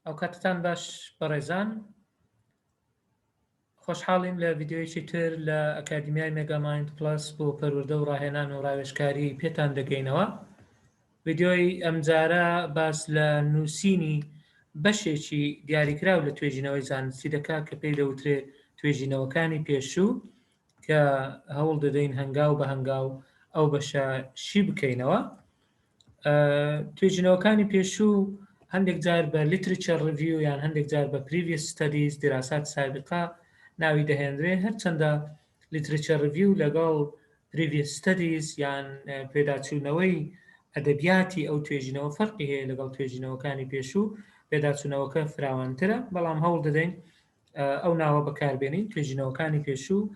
ئەو کاتتان باش بەڕێزان خۆشحاڵین لە ڤیددیوەیەکی تر لە ئەکادمیای مێگاماین پلس بۆ پەروەدە و ڕاهێنان و ڕاوێشکاری پێتان دەگەینەوە ڤیددیۆی ئەمجارە باس لە نووسینی بەشێکی دیاریکراو لە توێژینەوەی زانستی دەکا کە پێی دەوترێ توێژینەوەکانی پێشوو کە هەوڵ دەدەین هەنگاو بە هەنگاو ئەو بەشە شی بکەینەوە توێژینەوەکانی پێشوو هەندێک جار بە لیترچە ڕڤیو یان هەندێک جار بە پریوی ستەدیز دراسات سابقا ناوی دەهێنرێ هەرچەندە لیترچە ڕڤیو لەگەڵ پریوی ستەدیز یان پێداچوونەوەی ئەدەبیاتی ئەو توێژینەوە فەرقی هەیە لەگەڵ توێژینەوەکانی پێشوو پێداچوونەوەکە فراوانترە بەڵام هەوڵ دەدەین ئەو ناوە بەکاربێنین توێژینەوەکانی پێشوو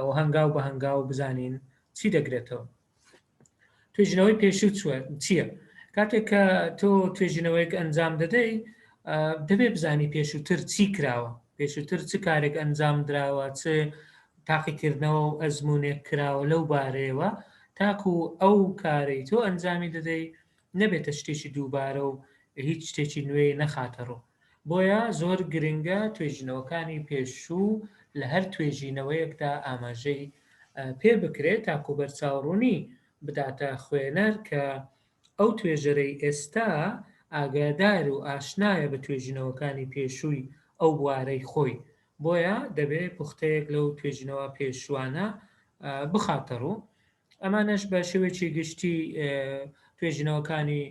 و هەنگاو بە هەنگاو بزانین چی دەگرێتەوە توێژینەوەی پێشوو چییە؟ کاتێک کە تۆ توێژینەوەیەک ئەنجام دەدەی دەبێ بزانی پێشووتر چی کراوە پێشووتر چ کارێک ئەنجام دراوە چ تاقیکردنەوە و ئەزمونێک کراوە لەو بارەیەوە تاکو ئەو کارەی تۆ ئەنجامی دەدەی نەبێتە شتێکی دووبارە و هیچ شتێکی نوێی نەخاتە ڕوو. بۆیە زۆر گرنگە توێژینەوەکانی پێشوو لە هەر توێژینەوەیەکدا ئاماژەی پێ بکرێت تاکو بەرچاوڕوونی بداتە خوێنەر کە ئەو توێژەرەی ئێستا ئاگادار و ئاشنایە بە توێژینەوەکانی پێشووی ئەو بوارەی خۆی، بۆیە دەبێ پوختەیەک لەو توێژینەوە پێشووانە بخاتە ڕوو. ئەمانەش بە شێوەیەکی گشتی توێژینەوەکانی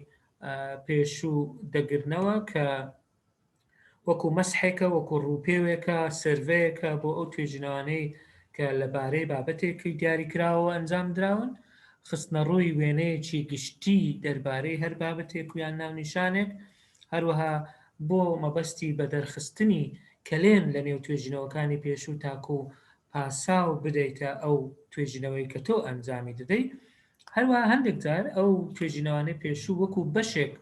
پێشوو دەگرنەوە کە وەکو مەسحێکە وەکو ڕووپێوێکە سرڤەیەکە بۆ ئەو توێژینەوانەی کە لەبارەی بابەتێکی دیاری کراوە ئەنجام دراون خستنە ڕووی وێنەیەکی گشتی دەربارەی هەر بابەتێک و یان ناونیشانێک هەروەها بۆ مەبەستی بە دەرخستنی کەلێن لە نێو توێژینەوەکانی پێشوو تاکو پاساو بدەیتە ئەو توێژینەوەی کە تۆ ئەنجامی دەدەی هەروە هەندێک جار ئەو توێژینەوانەی پێشوو وەکو بەشێک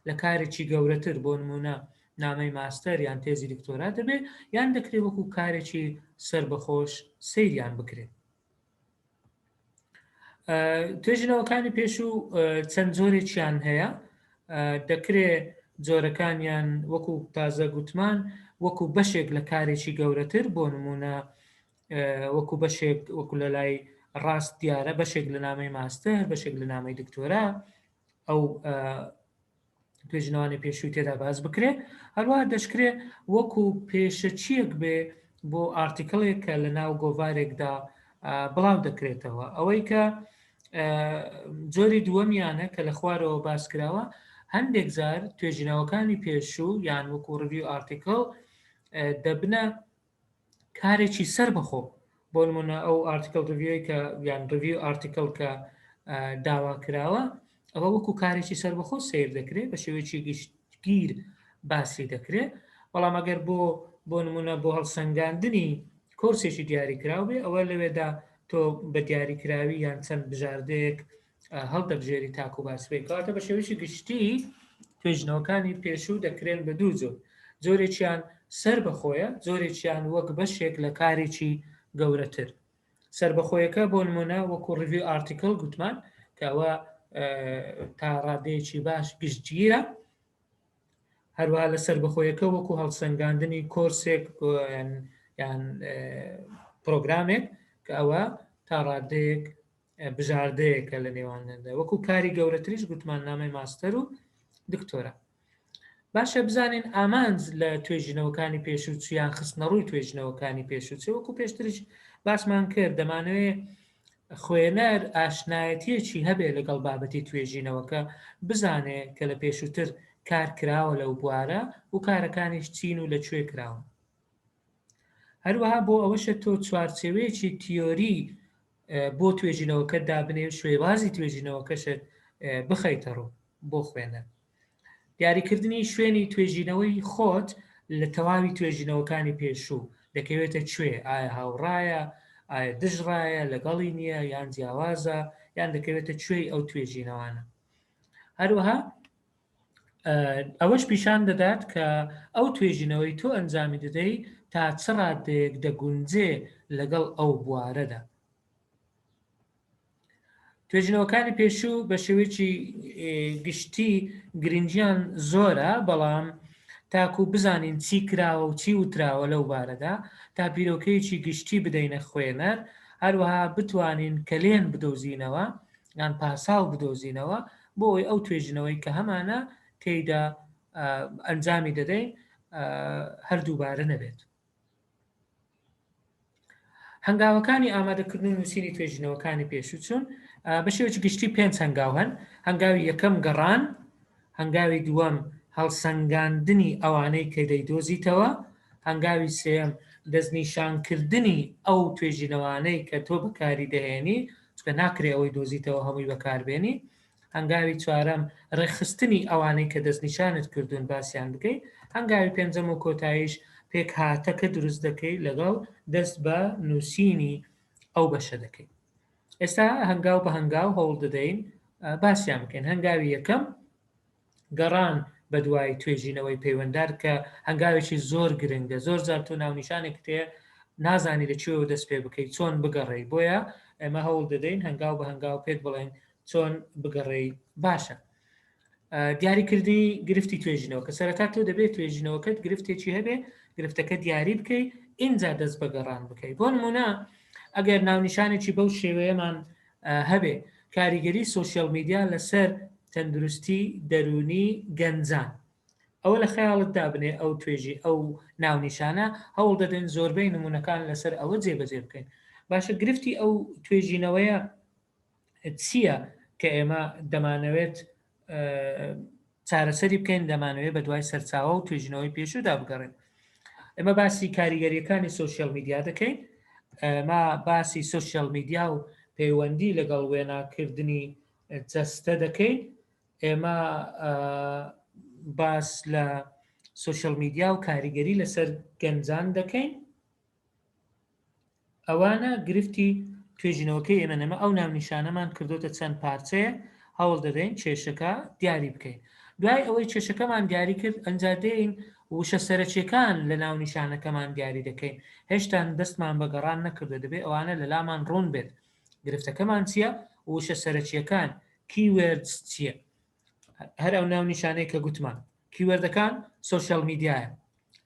لە کارێکی گەورەتر بۆ نمونە نامەی ماستەر یان تێزی دکتۆرا دەبێت یان دەکرێت وەکو کارێکی سربەخۆش سەیریان بکرێت توێژینەوەکانی پێش و چەند جۆرێکیان هەیە دەکرێ جۆرەکانیان وەکو تازە گوتمان وەکو بەشێک لە کارێکی گەورەتر بۆ نمونە وەکو بەشێک وەکو لە لای ڕاست دیارە بەشێک لە نامەی ماستەر بەشێک لە نامەی دکتۆرا ئەو پێژنەوانی پێشووی تێدا باز بکرێ هەروە دەشکرێ وەکو پێشەچیەک بێ بۆ ئارتیکلێک کە لە ناو گۆڤارێکدا بڵاو دەکرێتەوە ئەوەی کە جۆری دووەمیانە کە لە خوارەوە باس کراوە هەندێک جار توێژینەوەکانی پێشوو یان وەکو ڕوی ئارتیکل دەبنە کارێکی سەربەخۆ بۆ نمونە ئەو ئارتیکل ڕویۆی کە یان ڕوی ئارتیکل کە داوا کراوە ئەوە وەکو کارێکی سەربەخۆ سیر دەکرێت بە شێوەیەکی گشتگیر باسی دەکرێت بەڵام ئەگەر بۆ بۆ نمونە بۆ هەڵسەنگاندنی کۆرسێکی دیاریکراو بێ ئەوە لەوێدا تۆ بە دیاریکراوی یان چەند بژاردەیەک هەڵدەبژێری تاکو باسبێ کاتە بە شێوەیەکی گشتی توێژنەوەکانی پێشوو دەکرێن بە دوو جۆر جۆرێکیان سەر بەخۆیە جۆرێکیان وەک بەشێک لە کارێکی گەورەتر سربەخۆیەکە بۆ نمونە وەکو ڕوی ئارتیکل گوتمان کەەوە تا ڕادەیەکی باش گشتگیرە هەروە لە سربەخۆیەکە وەکو هەڵسەنگاندنی کۆرسێک یان پرۆگرامێک کە ئەوە تا ڕادەیەک بژاردەیەکە لە نێواندا وەکو کاری گەورەتریش گوتمان نامەی ماستەر و دکتۆرە باشە بزانین ئامانج لە توێژینەوەکانی پێشوچیان خستنە ڕووی توێژنەوەکانی پێشوچێ وەکو پێشترش باسمان کرد دەمانەوێ خوێنەر ئاشنایەتیەکی هەبێ لەگەڵ بابەتی توێژینەوەکە بزانێ کە لە پێشووتر کار کراوە لەو بوارە و کارەکانیش چین و لە کوێ کراون هەروەها بۆ ئەوەشە تۆ چوارچێوەیەکی تیۆری بۆ توێژینەوەکە دابنێ و شوێوازی توێژینەوەکەشت بخەیتە ڕوو بۆ خوێنەر دیاریکردنی شوێنی توێژینەوەی خۆت لە تەواوی توێژینەوەکانی پێشوو دەکەوێتە کوێ ئایا هاوڕایە ئایا دژڕایە لەگەڵی نییە یان جیاوازە یان دەکەوێتە کوێی ئەو توێژینەوانە هەروەها ئەوەش پیشان دەدات کە ئەو توێژینەوەی تۆ ئەنجامی دەدەی تا چ ڕادەیەک دەگونجێ لەگەڵ ئەو بوارەدا توێژینەوەکانی پێشوو بە شێوەیەکی گشتی گرنگیان زۆرە بەڵام تاکو بزانین چی کراوە و چی وتراوە لەو بارەدا تا بیرۆکەیەکی گشتی بدەینە خوێنەر هەروەها بتوانین کەلێن بدۆزینەوە یان پاساو بدۆزینەوە بۆ ئەوەی ئەو توێژینەوەی کە هەمانە تێیدا ئەنجامی دەدەین هەردووبارە نەبێت. هەنگاوەکانی ئامادەکردن و نووسینی توێژینەوەکانی پێشوچون بە شێوەی گشتی پێنج هەنگاو هەن هەنگاوی یەکەم گەڕان هەنگاوی دووەم هەڵسەنگاندنی ئەوانەی کە دەیدۆزیتەوە، هەنگاوی سێیەم دەستنیشانکردنی ئەو توێژینەوانەی کە تۆ بەکاری دەهێنی، چونکە ناکرێ ئەوەی دۆزیتەوە هەمووی بەکاربێنی، هەنگاوی چوارەم ڕێکخستنی ئەوانەی کە دەستنیشانت کردوون باسیان بکەی، هەنگاوی پێنجەم و کۆتاییش پێکهاتەکە دروست دەکەی لەگەڵ دەست بە نووسینی ئەو بەشە دەکەی. ئێستا هەنگاو بە هەنگاو هەوڵ دەدەین باسیان بکەین هەنگاوی یەکەم گەڕان بە دوای توێژینەوەی پەیوەندار کە هەنگاوێکی زۆر گرنگە زۆر زار تۆ ناونیشانێک تێ نازانی لە کوێوە دەست پێ بکەیت چۆن بگەڕێی بۆیە ئێمە هەوڵ دەدەین هەنگاو بە هەنگاو پێت بڵێن چۆن بگەڕێی باشە دیاریکردنی گرفتی توێژینەوە کە سەرەتا تۆ دەبێت توێژینەوەکەت گرفتێکی هەبێ گرفتەکە دیاری بکەی ئینجا دەست بە گەڕان بکەی بۆ نمونە ئەگەر ناونیشانێکی بەو شێوەیەمان هەبێ کاریگەری سوسیال میدیا لەسەر تەندروستی دەرونی گەنجان ئەوە لە خەیاڵت دابنێ ئەو توێژی ئەو ناونیشانە هەوڵ دەدەن زۆربەی نمونونەکان لەسەر ئەوە جێبەجێ بکەین باشە گرفتی ئەو توێژینەوەیە چییە کە ئێمە دەمانەوێت چارەسەری بکەین دەمانەوێت بە دوای سەرچاوە و توێژینەوەی پێشودا بگەڕێن ئێمە باسی کاریگەریەکانی سوسیال میدیا دەکەین ما باسی سوسیال میدیا و پەیوەندی لەگەڵ وێناکردنی جەستە دەکەین ئێمە باس لە سوسیال میدیا و کاریگەری لەسەر گەنجان دەکەین ئەوانە گرفتی توێژینەوەکەی ئێمەن، ئێمە ئەو ناونیشانەمان کردۆتە چەند پارچەیە، هەوڵ دەدەین کێشەکە دیاری بکەین. دوای ئەوەی کێشەکەمان دیاری کرد، ئەنجا دێین وشە سەرەکیەکان لە ناونیشانەکەمان دیاری دەکەین، هێشتان دەستمان بە گەڕان نەکردوە، دەبێت ئەوانە لە لامان ڕوون بێت گرفتەکەمان چیە و وشە سەرەکیەکان، Keywords، چیە. هەر ئەو ناونیشانەی کە گوتمان، کیوەردەکان سۆشیال میدیایە،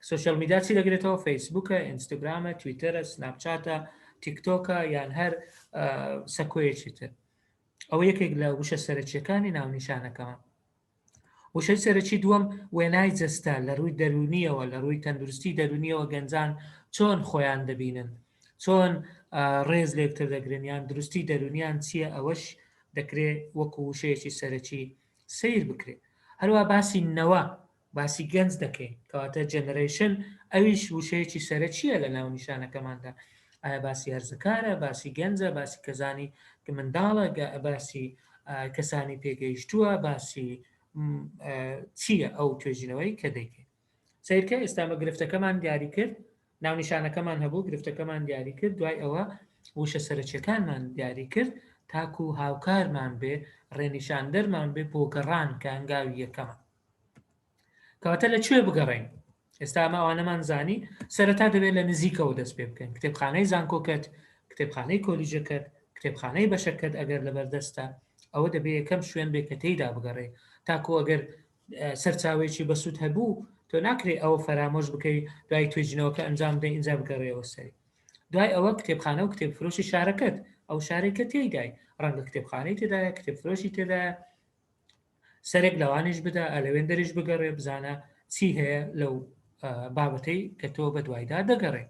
سۆشیال میدیا چی دەگرێتەوە فەیسبوکە ئینستاگرامە تویتەرە سناپچاتە تیکتۆکە یان هەر سەکۆیەکی تر ئەوە یەکێک لە وشە سەرچیەکانی ناونیشانەکەمە وشەی سەرەکی دووەم وێنای جەستە لە ڕووی دەرونیەوە لە ڕووی تەندروستی دەرونیەوە گەنجان چۆن خۆیان دەبینن چۆن ڕێز لێکتر دەگرن یان دروستی دەرونیان چییە ئەوەش دەکرێت وەکو وشەیەکی سەرەکی سیر بکرێت هەروە باسی نەوە باسی گەنج دەکەین کەواتە جەنەرەیشن ئەویش وشەیەکی سەرەکییە لە ناونیشانەکەماندا ئایا باسی هەرزەکارە باسی گەنجە باسی کەزانی کە منداڵە باسی کەسانی پێگەیشتووە باسی چییە ئەو توێژینەوەی کە دەیکەین سیرکە ئێستامە گرفتەکەمان دیاری کرد ناونیشانەکەمان هەبوو گرفتەکەمان دیاری کرد دوای ئەوە وشە سەرچەکانمان دیاری کرد تاکو هاوکارمان بێ ڕێنیشاندەرمان بێ بۆ گەڕان کە هەنگاوی یەکەمان کەواتە لە کوێ بگەڕین ئێستا ئەمە ئەوانەمان زانی سەرەتا دەبێت لە نزیکەوە دەست پێ بکەین کتێبخانەی زانکۆکەت کتێبخانەی کۆلیجەکەت کتێبخانەی بەشەکەت ئەگەر لەبەردەستە ئەوە دەبێت یەکەم شوێن بێ کە تێیدا بگەڕێ تاکو ئەگەر سەرچاوێکی بەسوود هەبوو تۆ ناکرێت ئەوە فەرامۆش بکەی دوای توێژینەوەکە ئەنجام دەی ئینجا بگەڕێەوە سەری دوای ئەوە کتێبخانە و کتێب فرۆشی شارەکەت ئەو شارێکە تێدای ڕەنگە کتێبخانەی تێدایە کتێب فرۆشی تێدایە سەرێک لەوانیش بدە ئەلەوێندەریش بگەڕێ بزانە چی هەیە لەو بابەتەی کە تۆ بە دوایدا دەگەڕێ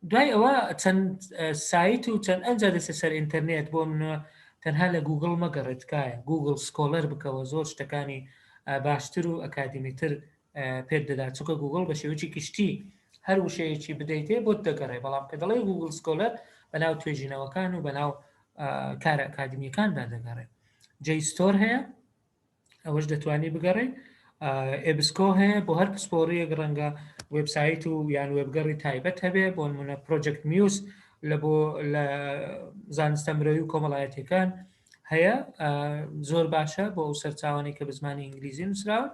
دوای ئەوە چەند سایت و چەند ئەنجا دەسە سەر ئینتەرنێت بۆ منە تەنها لە گوگل مەگەڕێتکایە گوگل سکۆلەر بکەوە زۆر شتەکانی باشتر و ئەکادیمیتر پێت دەدا چکە گوگل بە شێوکی گشتی هەر وشەیەکی بدەیتێ بۆت دەگەڕێ بەڵام کە دەڵێ گوگل سکۆلەر بەناو توێژینەوەکان و بەناو کارە ئەکادمیەکاندا دەگەڕێت جەیستۆر هەیە ئەوەش دەتوانی بگەڕێ ئێبسکۆ هەیە بۆ هەر پسپۆریەک ڕەنگە وبسایت و یان وێبگەڕی تایبەت هەبێ بۆ منە پرۆجەکت میوس لە بۆ لە زانستە مرۆی و کۆمەڵایەتەکان هەیە زۆر باشە بۆ ئەو سەرچاوانی کە بە زمانی ئینگلیزی نووسراوە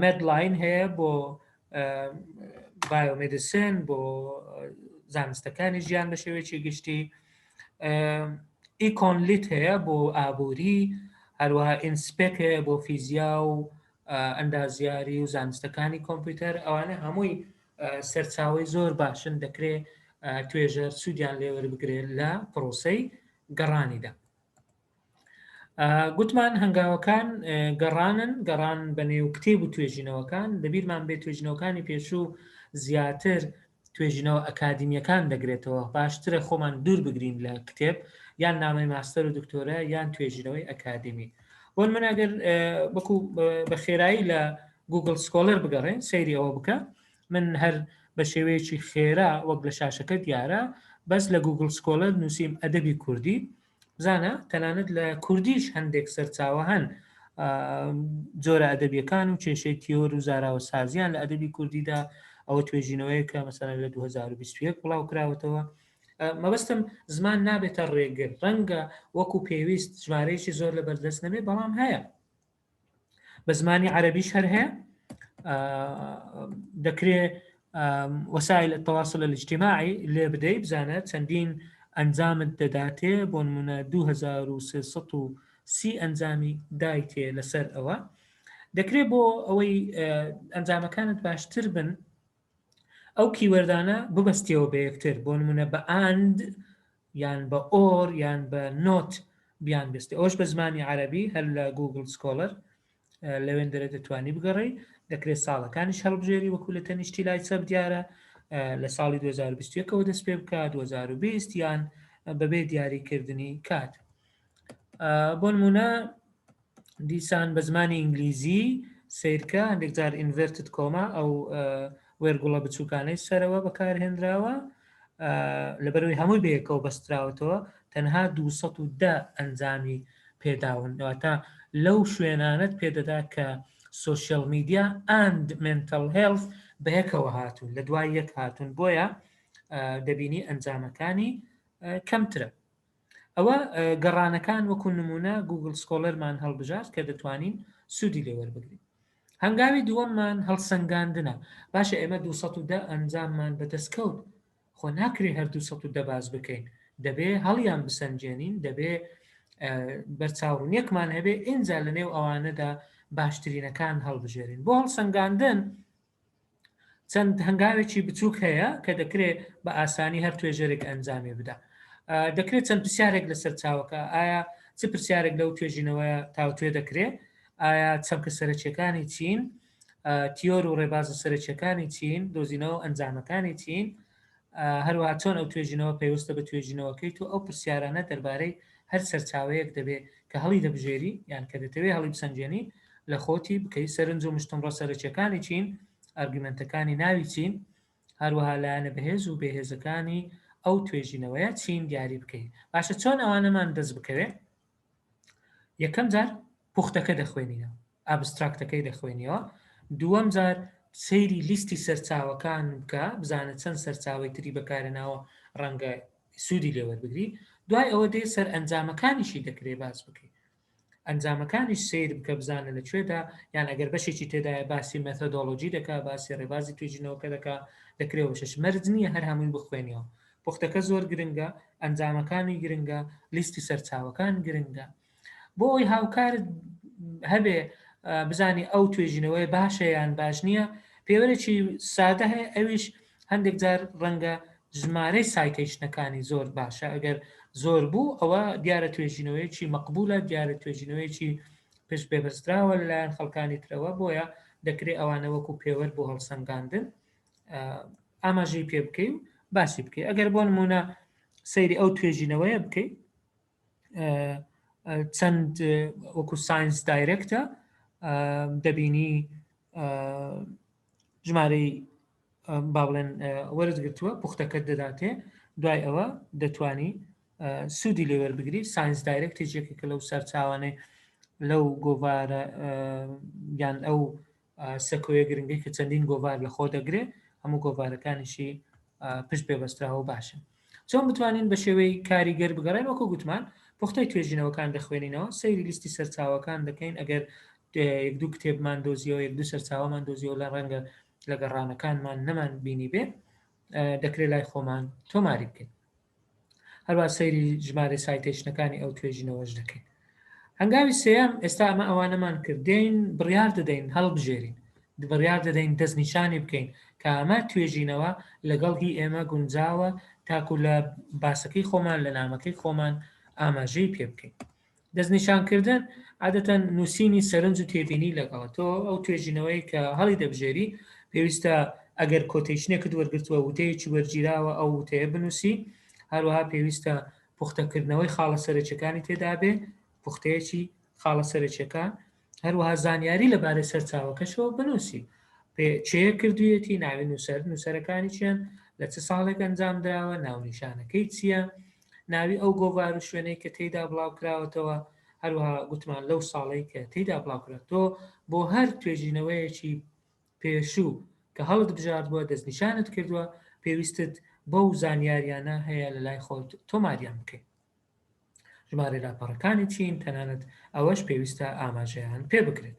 مێدلاین هەیە بۆ بایۆمدیسن بۆ زانستەکانی ژیان بە شێوەیەکی گشتی ئیکۆنلیت هەیە بۆ ئابووری هەروەها ئینسپێک هەیە بۆ فیزیا و ئەندازیاری و زانستەکانی کۆمپیوتەر ئەوانە هەمووی سەرچاوی زۆر باشن دەکرێ توێژەر سوودیان لێوەربگرێت لە پرۆسی گەڕانیدا گوتمان هەنگاوەکان گەڕانن گەڕان بە نێو کتێب و توێژینەوەکان دەبیرمان بێت توێژینەوەکانی پێشوو زیاتر توێژینەوە ئەکادیمیەکان دەگرێتەوە باشترە خۆمان دوور بگرین لە کتێب یان نامەی ماستەر و دکتۆرە یان توێژینەوەی ئەکادمی بۆن من ئەگەر بکو بە خێرایی لە گوگل سکۆلەر بگەڕێن سەیری ئەوە بکە من هەر بە شێوەیەکی خێرا وەک لە شاشەکە دیارە بەس لە گوگل سکۆلەر نووسیم ئەدەبی کوردی بزانە تەنانەت لە کوردیش هەندێک سەرچاوە هەن جۆرە ئەدەبیەکان و کێشەی تیۆر و زاراوە سازیان لە ئەدەبی کوردیدا ئەوە توێژینەوەی کە مەسەرە لە 2021 بڵاو کراوەتەوە مەبەستم زمان نابێتە ڕێگر ڕەنگە وەکو پێویست ژمارەیەکی زۆر لە بەردەست نەبێ بەڵام هەیە بە زمانی عەربیش هەر هەیە دەکرێ وەسایل تەواصل الاجتماعی لێ بدەی بزانە چەندین ئەنجامت دەداتێ بۆ نمونە 2330 ئەنجامی دایتێ لەسەر ئەوە دەکرێت بۆ ئەوەی ئەنجامەکانت باشتر بن ئەو کیوەردانە ببەستیەوە بە یەکتر بۆ نمونە بە and یان بە or یان بە not بیان بستی ئەوش بە زمانی عربی هەر لە گوگل سکۆلەر لەوێندەرە دەتوانی بگەڕی دەکرێت ساڵەکانیش هەڵبژێری وەکو لە تەنیشتی لای چەپ دیارە لە ساڵی 2021ەوە دەست پێ بکە 2020 یان بەبێ دیاریکردنی کات بۆ نمونە دیسان بە زمانی ئینگلیزی سیرکە هەندێک جار ئینڤرتت کۆما ئەو وێرگوڵە بچووکانەی سەرەوە بەکارهێنراوە لەبەروی هەمووی بەیەکەوە بەستراوەتەوە تەنها 210 ئەنجامی پێداون دواتە لەو شوێنانت پێدەدا کە سوسیال میدیا ئەند منتل هێڵف بەیەکەوە هاتون لە دوای یەک هاتون بۆیە دەبینی ئەنجامەکانی کەمترە ئەوە گەڕانەکان وەکو نمونە گووگڵ سکۆڵەرمان هەڵبژارد کە دەتوانین سوودی لێ وەربگرین. هەنگاوی دووەممان هەڵسەنگاندنە، باشە ئێمە دوو سەد و دە ئەنجاممان بەدەست کەوت، خۆ ناکرێ هەر دوو سەد و دە باس بکەین، دەبێ هەڵیان بسەنجێنین، دەبێ بەرچاوڕونیەکمان هەبێ ئینجا لەنێو ئەوانەدا باشترینەکان هەڵبژێرین. بۆ هەڵسەنگاندن چەند هەنگاوێکی بچووک هەیە کە دەکرێت بە ئاسانی هەر توێژەرێک ئەنجامی بدا دەکرێت چەند پرسیارێک لەسەر چاوەکە ئایا چ پرسیارێک لەو توێژینەوە تاوتوێ دەکرێت ئایا چەمکە سەرچەکانی چین تیۆر و ڕێباز و سەرچەکانی چین دۆزینەوە ئەنجامەکانی چین هەروەها چۆن ئەو توێژینەوە پەیوەستە بە توێژینەوەکەی تۆ ئەو پرسیارانە دەربارەی هەر سەرچاوەیەک دەبێ کە هەڵی دەبژێری یان کە دەتەوێ هەڵی بسەنجێنی لە خۆتی بکەی سەرنج و مشتومڕە سەرەکیەکانی چین ئەرگومنتەکانی ناوی چین هەروەها لایەنە بەهێز و بێهێزەکانی ئەو توێژینەوەیە چین دیاری بکەیت باشە چۆن ئەوانەمان دەست بکەوێت یەکەم جار پوختەکە دەخوێنینەوە ئابستراکتەکەی دەخوێنیەوە دووەم جار سەیری لیستی سەرچاوەکان بکە بزانە چەند سەرچاوی تری بەکارناوە ڕەنگە سوودی لێوەربگری دوای ئەوە دێ سەر ئەنجامەکانیشی دەکرێ باس بکەی ئەنجامەکانی سیر بکە بزانە لە کوێدا یان ئەگەر بەشێکی تێدایە باسی مەتەدۆلۆژی دەکا باسی ڕێبازی توێژینەوەکە دەکا دەکرێ بەشش مەرج نییە هەر هەمووی بخوێنیەوە پوختەکە زۆر گرنگە، ئەنجامەکانی گرنگە، لیستی سەرچاوەکان گرنگە. بۆ ئەوی هاوکارت هەبێ بزانی ئەو توێژینەوەی باشە یان باش نییە، پێوەرێکی سادە هەیە ئەویش هەندێک جار ڕەنگە ژمارەی سایتەیشنەکانی زۆر باشە ئەگەر زۆر بوو ئەوە دیارە توێژینەوەیەکی مەقبولە دیارە توێژینەوەیەکی پشت بێبەستراوە لەلایەن خەڵکانی ترەوە بۆیە دەکرێت ئەوانە وەکو پێوەر بۆ هەڵسەنگاندن ئاماژەی پێ بکەی و باسی بکەی ئەگەر بۆ نمونە سەیری ئەو توێژینەوەیە بکەیت چەند وەکو ساینس دایرەکتە دەبینی ژمارەی با بڵێن وەرز گرتووە پوختەکەت دەداتێ دوای ئەوە دەتانی سوودی لێوەر بگری ساینس دایرەکتی جێکێکە لەو سەرچاوانێ لەو گۆوارە یان ئەو سەکۆیە گرنگەی کە چەندین گۆڤار لە خۆ دەگرێ هەموو گۆڤارەکانیشی پشت پێ بەستراوە باشن چۆن بتوانین بە شێوەی کاریگەر بگەڕێن وەکو گوتمان پوختەی توێژینەوەکان دەخوێنینەوە سەیری لیستی سەرچاوەکان دەکەین ئەگەر یەک دوو کتێبمان دۆزیەوە یەک دوو سەرچاوەمان دۆزیەوە لە ڕەنگە لە گەڕانەکانمان نەمان بینی بێ دەکرێت لای خۆمان تۆماری بکەین هەروە سەیری ژمارە سایتەیشنەکانی ئەو توێژینەوەش دەکەین هەنگاوی سێم ئێستا ئەمە ئەوانەمان کردین بڕیار دەدەین هەڵبژێرین بڕیار دەدەین دەست نیشانی بکەین کە ئەمە توێژینەوە لەگەڵ هی ئێمە گونجاوە تاکو لە باسەکەی خۆمان لە نامەکەی خۆمان ئاماژەی پێ بکەین دەستنیشانکردن، عادەتەن نووسینی سەرنج و تێبینی لەگەڵە، تۆ ئەو توێژینەوەیەی کە هەڵیدەبژێری، پێویستە ئەگەر کۆتەیشنێکت وەرگرتووە، وتەیەکی وەرگیراوە ئەو وتەیە بنووسی، هەروەها پێویستە پوختەکردنەوەی خاڵە سەرەکیەکانی تێدابێ، پوختەیەکی خاڵە سەرەکیەکان، هەروەها زانیاری لەبارەی سەرچاوەکەشەوە بنووسی چێ کردویەتی ناوی نووسەر نووسەرەکانی چیان لە چ ساڵێک ئەنجام دراوە ناونیشانەکەی چییە ناوی ئەو گۆڤار و شوێنەی کە تێیدا بڵاوکراوەتەوە هەروها گوتمان لەو ساڵی کە تێیدا بڵاوکرێت تۆ بۆ هەر توێژینەوەیەکی پێشوو کە هەڵت بژارد بووە دەستنیشانت کردووە پێویستت بەو زانیاریانە هەیە لە لای خۆت تۆماریان بکەیت ژمارەی لاپەڕەکانی چین تەنانەت ئەوەش پێویستە ئاماژەیان پێ بکرێت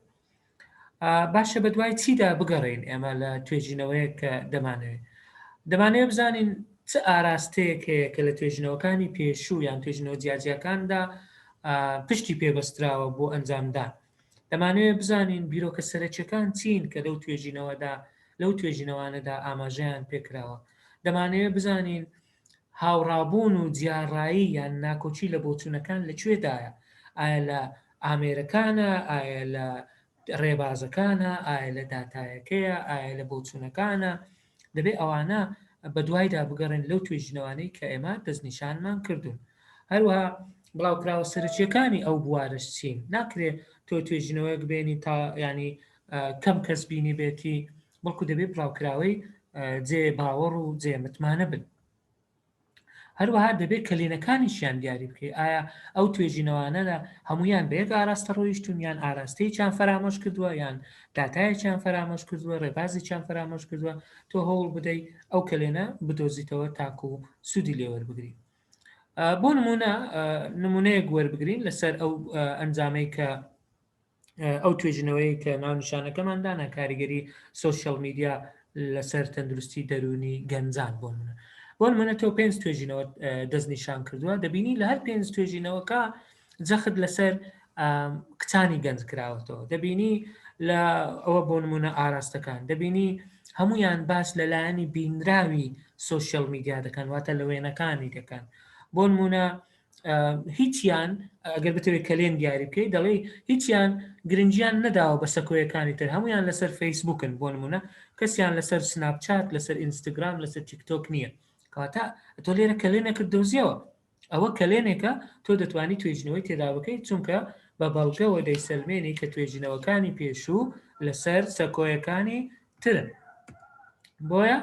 باشە بە دوای چیدا بگەڕین ئێمە لە توێژینەوەیە کە دەمانەوێت دەمانەیە بزانین چ ئاراستەیەک هەیە کە لە توێژینەوەکانی پێشوو یان توێژینەوە جیاجیەکاندا پشتی پێبەستراوە بۆ ئەنجامدان دەمانەوێت بزانین بیرۆکە سەرەکیەکان چین کە لەو توێژینەوەدا لەو توێژینەوانەدا ئاماژەیان پێکراوە دەمانەیە بزانین هاوڕابوون و جیاڕایی یان ناکۆکی لە بۆچوونەکان لە کوێدایە؟ ئایا لە ئامێرەکانە؟ ئایا لە ڕێبازەکانە؟ ئایا لە داتایەکەیە؟ ئایا لە بۆچوونەکانە؟ دەبێ ئەوانە بەدوایدا بگەڕێن لەو توێژینەوانەی کە ئێمە دەستنیشانمان کردوون. هەروەها بڵاوکراوە سەرەکیەکانی ئەو بوارەش چین؟ ناکرێ تۆ توێژینەوەیەک بێنی تا ینی کەم کەس بینیبێتی بەڵکو دەبێت بڵاوکراوەی جێ باوەڕ و جێ متمانە بن هەروەها دەبێت کەلێنەکانیشیان دیاری بکەیت ئایا ئەو توێژینەوانەدا هەمویان بەیەک ئاراستە ڕۆیشتون یان ئاراستەیەکیان فەرامۆش کردووە یان داتایەکیان فەرامۆش کردووە ڕێبازێکیان فەرامۆش کردووە تۆ هەوڵ بدەی ئەو کەلێنە بدۆزیتەوە تاکو و سوودی لێوەربگری بۆ نمونە نمونەیەک وەربگرین لەسەر ئەو ئەنجامەی کە ئەو توێژنەوەی کە ناونیشانەکەمان دانا کاریگەری سوسیال میدیا لەسەر تەندروستی دەرونی گەنجان بۆ منە بۆ منە تۆ پێنج توێژینەوە دەست نیشان کردووە دەبینی لە هەر پێنج توێژینەوەکە جەخت لەسەر کچانی گەنج کراوەتەوە دەبینی لە ئەوە بۆ نمونە ئاراستەکان دەبینی هەمویان باس لەلایەنی بینراوی سوسیال میدیا دەکەن واتە لە وێنەکانی دەکەن بۆ نمونە هیچیان ئەگەر بتەوێت کەلێن دیاری بکەیت دەڵێ هیچیان گرنجیان نەداوە بە سەکۆیەکانی تر هەمویان لەسەر فەیسبوکن بۆ نمونە کەسیان لەسەر سناپچات لەسەر ئینستاگرام لەسەر تیکتۆک نییە کەواتە تۆ لێرە کەلێنێکت دۆزیەوە ئەوە کەلێنێکە تۆ دەتوانانی توێژنەوەی تێدا بکەیت چونکە بە بەڵگەوە دەیسەلمێنی کە توێژینەوەکانی پێشوو لەسەر سەکۆیەکانی ترن بۆیە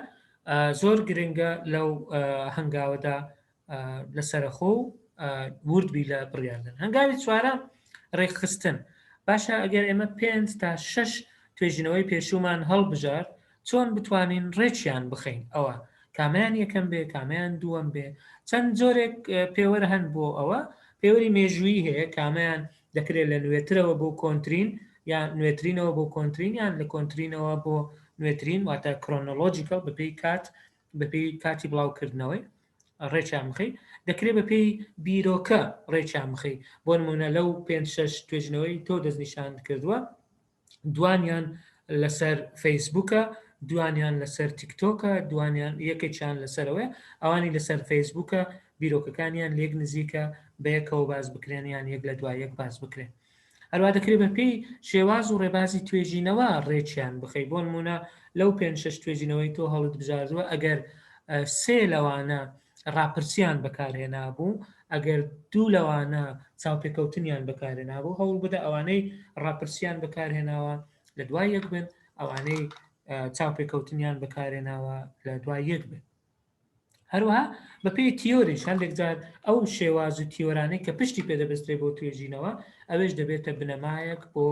زۆر گرنگە لەو هەنگاوەدا لە سەرەخۆ و وردبی لە بڕیاردن هەنگاوی چوارە ڕێکخستن باشە ئەگەر ئێمە پێنج تا شش توێژینەوەی پێشومان هەڵبژار چۆن بتوانین ڕێکیان بخەین ئەوە کامیان یەکەم بێ کامیان دووەم بێ چەند جۆرێک پێوەر هەن بۆ ئەوە پێوەری مێژووی هەیە کامیان دەکرێت لە نوێترەوە بۆ کۆنتترین یان نوێترینەوە بۆ کۆنتترین یان لە کۆنتترینەوە بۆ نوێترین واتە کرۆنۆلۆژیکەڵ بەپی کات بەپێی کاتی بڵاوکردنەوەی ڕێکیان بخەی دەکرێت بە پێی بیرۆکە ڕێکیان بخەی بۆ نمونە لەو پێ شش توێژنەوەی تۆ دەستنیشان کردووە دوانیان لەسەر فەیسبوکە دوانیان لەسەر تیکتۆکە دوانیان یەکێکیان لەسەرەوەی ئەوانی لەسەر فەیسبوکە بیرۆکەکانیان لێک نزیکە بەیەکەوە باز بکرێنیان یەک لە دوای یەک باز بکرێن هەروا دەکرێت بە پێی شێواز و ڕێبازی توێژینەوە ڕێکیان بخەی بۆ نمونە لەو پێنج شەش توێژینەوەی تۆ هەڵت بژاردووە ئەگەر سێ لەوانە ڕاپرسیان بەکارهێنابوو ئەگەر دوو لەوانە چاوپێکەوتنیان بەکارهێنابوو هەوڵ بدە ئەوانەی ڕاپرسیان بەکارهێناوە لە دوای یەک بن ئەوانەی چاوپێکەوتنیان بەکارهێناوە لە دوای یەک بن هەروەها بە پێی تیۆریش هەندێک جار ئەو شێواز و تیۆرانەی کە پشتی پێ دەبەسترێ بۆ توێژینەوە ئەوێش دەبێتە بنەمایەک بۆ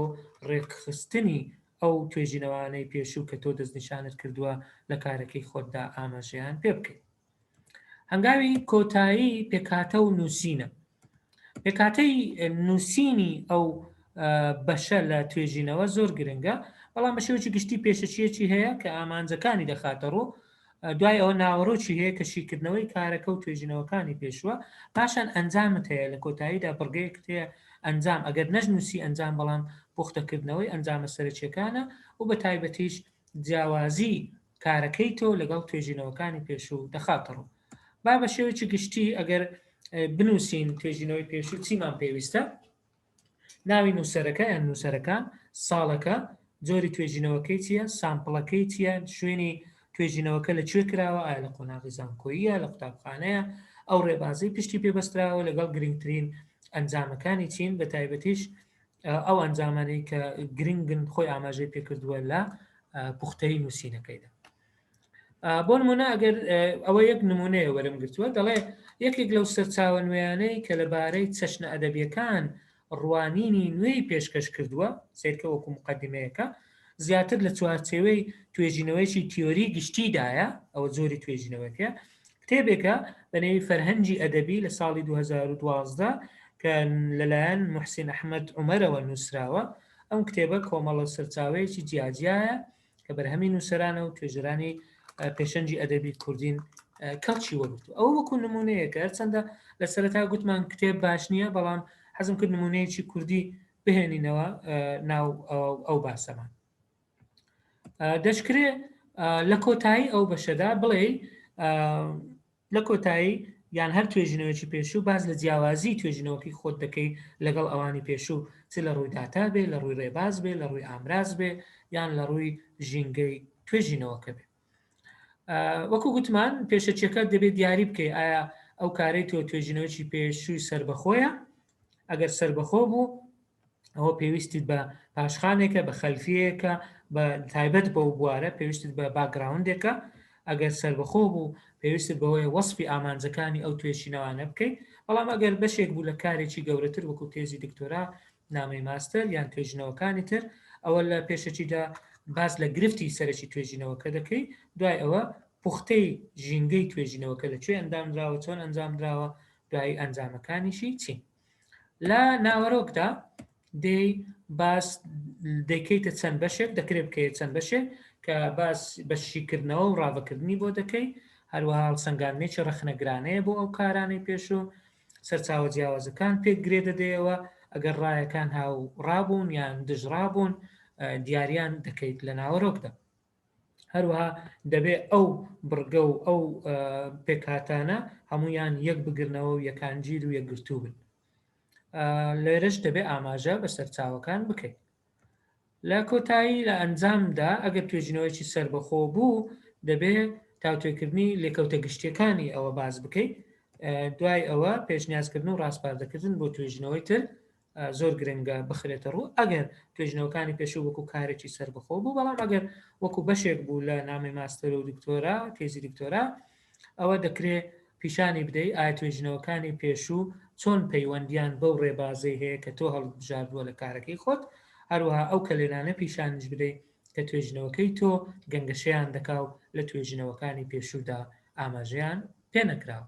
ڕێکخستنی ئەو توێژینەوانەی پێشوو کە تۆ دەستنیشانت کردووە لە کارەکەی خۆتدا ئاماژەیان پێ بکەیت هەنگاوی کۆتایی پێکاتە و نووسینە پێکاتەی نووسینی ئەو بەشە لە توێژینەوە زۆر گرنگە بەڵام بە شێوەی گشتی پێشەچیەکی هەیە کە ئامانجەکانی دەخاتە ڕوو دوای ئەوە ناوەرۆکی هەیە کە شیکردنەوەی کارەکە و توێژینەوەکانی پێشوە پاشان ئەنجامت هەیە لە کۆتاییدا بڕگەیەکت هەیە ئەنجام ئەگەر نەش نووسی ئەنجام بەڵام پوختەکردنەوەی ئەنجامە سەرەکیەکانە و بە تایبەتیش جیاوازی کارەکەی تۆ لەگەڵ توێژینەوەکانی پێشوو دەخاتەڕوو با بە شێوەیەکی گشتی ئەگەر بنووسین توێژینەوەی پێشوو چیمان پێویستە ناوی نووسەرەکە یان نووسەرەکان، ساڵەکە، جۆری توێژینەوەکەی چییە، سامپڵەکەی چییە، شوێنی توێژینەوەکە لە کوێ کراوە، ئایا لە قۆناغی زانکۆییە، لە قوتابخانەیە، ئەو ڕێبازەی پشتی پێ بەستراوە لەگەڵ گرنگترین ئەنجامەکانی چین، بە تایبەتیش ئەو ئەنجامانەی کە گرنگن خۆی ئاماژەی پێ کردووە لە پوختەیی نووسینەکەیدا. بۆ نمونە ئەگەر ئەوە یەک نمونەیە وەرم گرتووە دەڵێ یەکێک لەو سەرچاوە نوێیانەی کە لەبارەی چەشنە ئەدەبیەکان ڕوانینی نوێی پێشکەش کردووە سیرکە وەکو مقدمەیەەکە زیاتر لە چوارچێوەی توێژینەوەیکی تیۆری گشتیدایە ئەوە زۆری توێژینەوەکە کتێبێکە بەنێوی فەرهەنگی ئەدەبی لە ساڵی 2012 کە لەلایەن محسین ئەحمد عمەرەوە نووسراوە ئەم کتێبە کۆمەڵە سەرچاوەیەکی جیاجیایە کە بەرهەمی نووسەرانە و توێژەرانی پێشەنگی ئەدەبی کوردین کەڵکی وەرگتو ئەوە وەکو نمونەیەکە هەرچەندە لە سەرتا گوتمان کتێب باش نییە بەڵام حەزم کرد نمونەیەکی کوردی بهێنینەوە ناو ئەو باسەمان دەشکرێ لە کۆتایی ئەو بەشەدا بڵێ لە کۆتایی یان هەر توێژینەوەیەکی پێشوو باس لە جیاوازی توێژینەوەکەی خۆت دەکەی لەگەڵ ئەوانی پێشوو چ لە ڕووی داتا بێ لە ڕووی ڕێباز بێ لە ڕووی ئامراز بێ یان لە ڕووی ژینگەی توێژینەوەکە بێ وەکو گوتمان پێشەچەکە دەبێت دیاری بکەی ئایا ئەو کارەی تۆ توێژینەوەی پێشووی سربەخۆیە ئەگەر سربەخۆ بوو ئەوە پێویستت بە پاشخانێکە بە خەلفیەکە بە تایبەت بەو بوارە پێویستت بە باگراوندێکە ئەگەر سربەخۆ بوو پێویست بەوەی وەسپی ئامانجەکانی ئەو توێشینەوانە بکەیت بەڵام ئەگەر بەشێک بوو لە کارێکی گەورەتر وەکو تێزی دکتۆرا نامەی ماستەر یان توێژینەوەکانی تر ئەوە لە پێشەکیدا باس لە گرفتی سەرەکی توێژینەوەکە دەکەی دوای ئەوە پوختەی ژینگەی توێژینەوەکە لە کوێ ئەندامراوە چۆن ئەنجامدراوە دوایی ئەنجامەکانیشی چین لە ناوەرۆکدا دەی باس دەکەیتە چەند بەشێک دەکرێت بکەیت چەند بەشێک کە باس بە شیکردنەوە و ڕاڤەکردنی بۆ دەکەی هەروەها هەڵسەنگاندنێکی ڕەخنەگرانەیە بۆ ئەو کارانەی پێشوو سەرچاوە جیاوازەکان پێک گرێ دەدەیەوە ئەگەر ڕایەکان هاو ڕابوون یان دژڕابوون دیاریان دەکەیت لە ناوەرۆکدا هەروەها دەبێ ئەو بڕگە و ئەو پێکاتانە هەمویان یەک بگرنەوە و یەکانگیر و یەکگرتوو بن لێرەش دەبێ ئاماژە بە سەرچاوەکان بکەین لە کۆتایی لە ئەنجامدا ئەگەر توێژینەوەیکی سربەخۆ بوو دەبێ تاوتێکردنی لێکەوتە گشتیەکانی ئەوە باز بکەیت دوای ئەوە پێشنیازکردن و ڕاستپاردەکردن بۆ توێژینەوەی تر زۆر گرنگە بخرێتە ڕوو ئەگەر توێژنەوەکانی پێشوو وەکو کارێکی سەربەخۆ بوو بەڵام ئەگەر وەکو بەشێک بوو لە نامی ماستەرۆ دکتۆرا تێزی دکتۆرا ئەوە دەکرێ پیشانی بدەی ئایا توێژنەوەکانی پێشوو چۆن پەیوەندیان بەو ڕێبازەی هەیە کە تۆ هەڵبژاردووە لە کارەکەی خۆت هەروەها ئەو کەلێنانە پیشانش بدەیت کە توێژنەوەکەی تۆ گەنگەشەیان دەکا و لە توێژنەوەکانی پێشوودا ئاماژەیان پێ نەکراوە